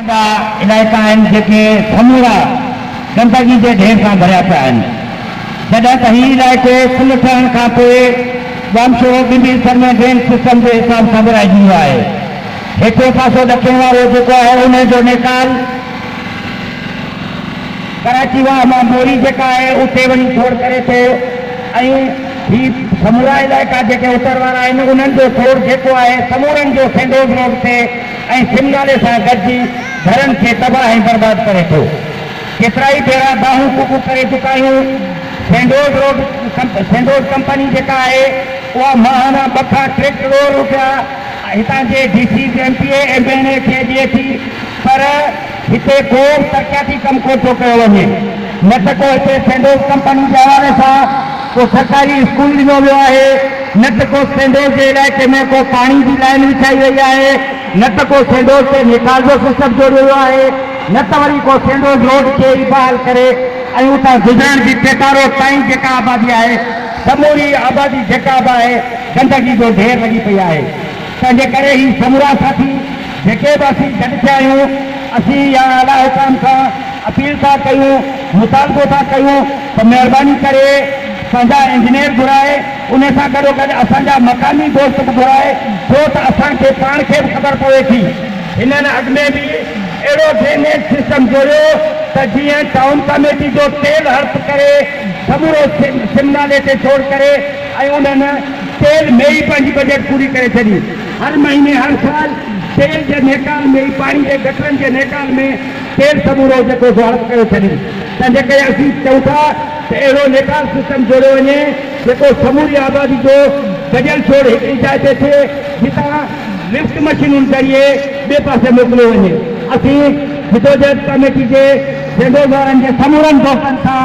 اهڙا علائقا آهن جيڪي سمورا گندگي جي ڍير سان ڀريا پيا آهن، جڏهن ته هي علائقو پل ٺهڻ کان پوء ڄامشورو ٻن به حصن ۾ ڊرين سسٽم جي حساب سان ورهائجي ويو آهي. هيٺيون پاسو ڏکڻ وارو جيڪو آهي انهي جو نيڪال، ڪراچي واهه مان موري جيڪا آهي اتي وڃي ڇوڙ ڪري ٿو ۽ هي سمورا علائقا جيڪي اتر وارا آهن انهن جو ڇوڙ جيڪو آهي سمورن جو سينڊوز روڊ تي ۽ سم نالي سان گڏجي گهرن کي تباهه ۽ برباد ڪري ٿو. ڪيترائي ڀيرا دانهون ڪوڪون ڪري چڪا آهيون. سينڊوڊ روڊ سينڊوڊ ڪمپني جيڪا آهي اها ماهانا ٻه کان ٽي ڪروڙ روپيا هتان جي D Cs, M P A, M N A کي ڏئي ٿي پر هتي ڪو به ترقياتي ڪم ڪو ٿو ڪيو وڃي نه ته ڪو هتي سينڊوز ڪمپني جي حوالي سان ڪو سرڪاري اسڪول ڏنو ويو آهي نه ته ڪو سينڊوز جي علائقي ۾ ڪو پاڻي جي لائين وڇائي وئي آهي نه ته ڪو سينڊوز تي نيڪال جو سسٽم جوڙيو ويو آهي نه ته وري ڪو سينڊوز روڊ کي ئي بحال ڪري ۽ اتان گذرڻ جي پيٽا روڊ تائين جيڪا آبادي آهي سموري آبادي جيڪا به آهي گندگي جو ڍير لڳي پئي آهي. تنهنجي ڪري هي سمورا ساٿي جيڪي به اسين گڏ ٿيا آهيون اسين يا اعليٰ حڪام کان اپيل ٿا ڪيون مطالبو ٿا ڪيون ته مهرباني ڪري پنهنجا انجنيئر گهرائي انهي سان گڏوگڏ اسان جا مقامي دوست به گهرائي ڇو ته اسان کي پاڻ کي به خبر پوي ٿي. هنن اڳ ۾ به اهڙو ڊرينيج سسٽم جوڙيو ته جيئن ٽائون ڪاميٽي جو تيل هڙپ ڪري سمورو سم نالي تي ڇوڙ ڪري ۽ انهن سيل ۾ ئي پنهنجي بجيٽ پوري ڪري ڇڏي. هر مهيني هر سال سيل جي نيڪال ۾ ئي پاڻي جي گٽرن جي نيڪال ۾ سيل سمورو جيڪو سو هڙپ ڪري ڇڏي. تنهنجي ڪري اسين چئون ٿا ته اهڙو نيڪال سسٽم جوڙيو وڃي جيڪو سموري آبادي جو گڏيل شور هڪ ئي جاء تي ٿئي جتان لفٽ مشينن ذريعي ٻئي پاسي موڪليو وڃي. اسين جدوجهد ڪاميٽي جي جنرل وارن جي سمورن دوستن سان